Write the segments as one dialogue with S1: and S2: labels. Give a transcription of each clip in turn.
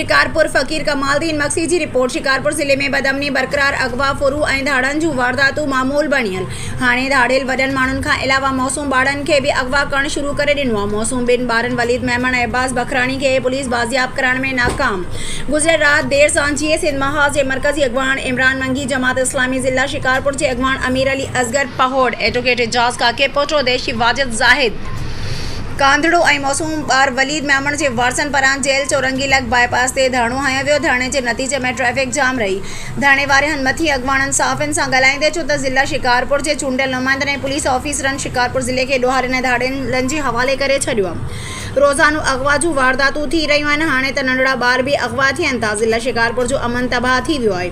S1: شڪارپور، فقير ڪمال الدين مگسي جي رپورٽ، شڪارپور ضلعي ۾ بدامني برقرار، اغوا، ڦرون ۽ ڌاڙن جون وارداتون معمول بڻيل، هاڻي ڌاڙيل وڏن ماڻهن کان علاوه معصوم ٻارڙن کي به اغوا ڪرڻ شروع ڪري ڏنو آهي، معصوم ٻن ٻارن وليد ميمڻ ۽ عباس بکراڻي کي پوليس بازياب ڪرائڻ ۾ ناڪام، گذريل رات دير سان جيئي سنڌ محاذ جي مرڪزي اڳواڻ عمران منگي، جماعت اسلامي ضلع شڪارپور جي اڳواڻ امير علي اصغر پهوڙ، ايڊووڪيٽ اعجاز ڪاڪي پوٽو، ديشي واجد زاهد. ڪانڌڙو ۽ معصوم ٻار وليد ميمڻ جي وارثن پاران جيل چورنگي لڳ باء پاس تي ڌرڻو هنيو ويو، ڌرڻي جي نتيجي ۾ ٽريفڪ جام رهي، ڌرڻي واري هن مٿين اڳواڻن صحافين سان ڳالهائيندي چيو ته ضلعي شڪارپور جي چونڊيل نمائندن ۽ پوليس آفيسرن شڪارپور ضلعي کي ڏوهارين ۽ ڌاڙيلن جي حوالي ڪري ڇڏيو آهي، روزانو اغوا جون وارداتون ٿي رهيون آهن، هاڻي ته ننڍڙا ٻار به اغوا ٿين ٿا، ضلعي شڪارپور جو امن تباهه ٿي ويو آهي.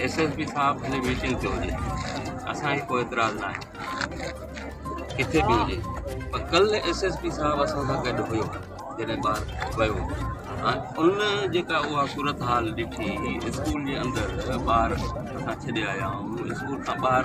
S2: ايس ايس پي صاحب ڀلي ميٽنگ تي هجي اسان کي ڪو اعتراض ناهي ڪٿي به هجي پر ڪل ايس ايس پي صاحب اسان سان گڏ هيو جڏهن ٻار ويو ان جيڪا اها صورت حال ڏٺي اسڪول جي اندر ٻار اسان ڇڏي آيا آهيون اسڪول کان ٻاهر